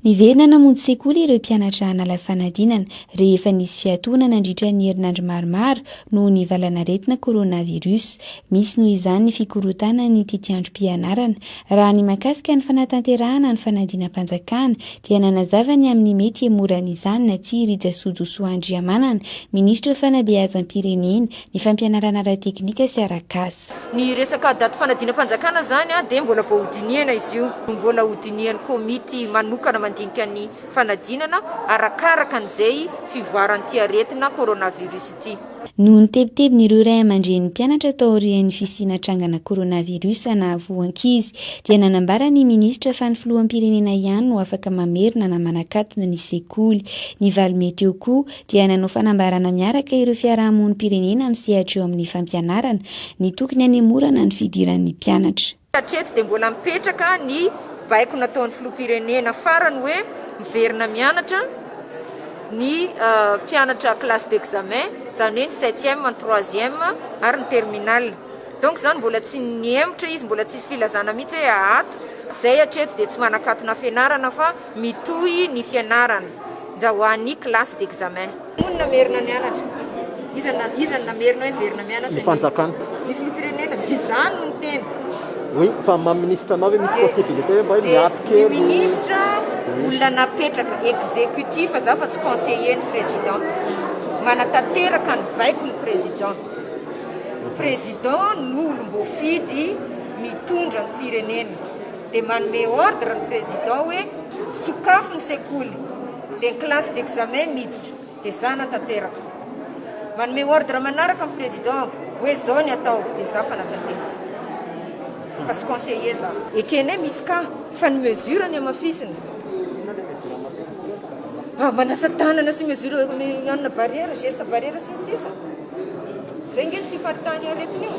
Niverina namonjy sekoly ireo mpianatra nala fanadinana rehefa nisy fiatoana nandritra ny herinandro maromaro noho ny valanaretina coronavirus. Misy noho izany ny fikorontanan'ny tetiandrom-pianarana. Raha ny mahakasika ny fanatanterahana ny fanadinam-panjakana dia nanazava ny amin'ny mety hemorana izany na tsia Rija Sojosoa Andriamanana, minisitra fanabeazam-pirenena, ny fampianarana ara-teknika sy ara-kasa. Ny resaka daty fanadinam-panjakana izany dia mbola vao hodinihana izy io. Mbola hodinihan'ny komity manokana mandinika ny fanadinana arakaraka an'izay fivoaran'ity aretina coronavirus ity. Noho ny tebitebin'ireo ray aman-drenin'ny mpianatra taorian'ny fisiana trangana coronavirus nahavoa ankizy dia nanambara ny minisitra fa ny filoham-pirenena ihany no afaka mamerina na manakatona ny sekoly. Ny valo mey teo koa dia nanao fanambarana miaraka ireo fiarahamonim-pirenena amin'ny sehatra eo amin'ny fampianarana, ny tokony hanemorana ny fidiran'ny mpianatra. Hatreto dia mbola mipetraka ny baiko nataon'ny filoham-pirenena farany hoe miverina mianatra ny mpianatra classe d'examen, izany hoe ny septième, ny troisième ary ny terminale. Donc izany mbola tsy nihemotra izy, mbola tsisy filazana mihitsy hoe ato izay hatreto dia tsy manan-katona fianarana fa. Mitohy ny fianarana ndra ho an'ny classe d'examen. Hoy ny namerina nianatra. Iza no iza no namerina hoe hiverina mianatra ny. Ny fanjakana. Ny filoham-pirenena. Tsy izany no ny tena. Oui, fa maha ministre anao ve misy possibilité hoe mba hoe miato kely. Ny ministre olona napetraka executif za fa tsy conseiller ny président. Manatanteraka ny baiko ny président. Président no olom-boafidy mitondra ny firenena. dia manome ordre ny président hoe sokafy ny sekoly dia ny classe d'examen miditra dia za hanatanteraka, manome ordre manaraka ny président hoe zao ny atao dia za mpanatanteraka fa tsy conseiller za. Ekenay misy cas fa ny mesure ny hamafisina. Inona le mesure hamafisina? Manasa tanana sy mesure mihaona barrière, geste barrière sy ny sisa. Zay nge tsy faritany aretina io.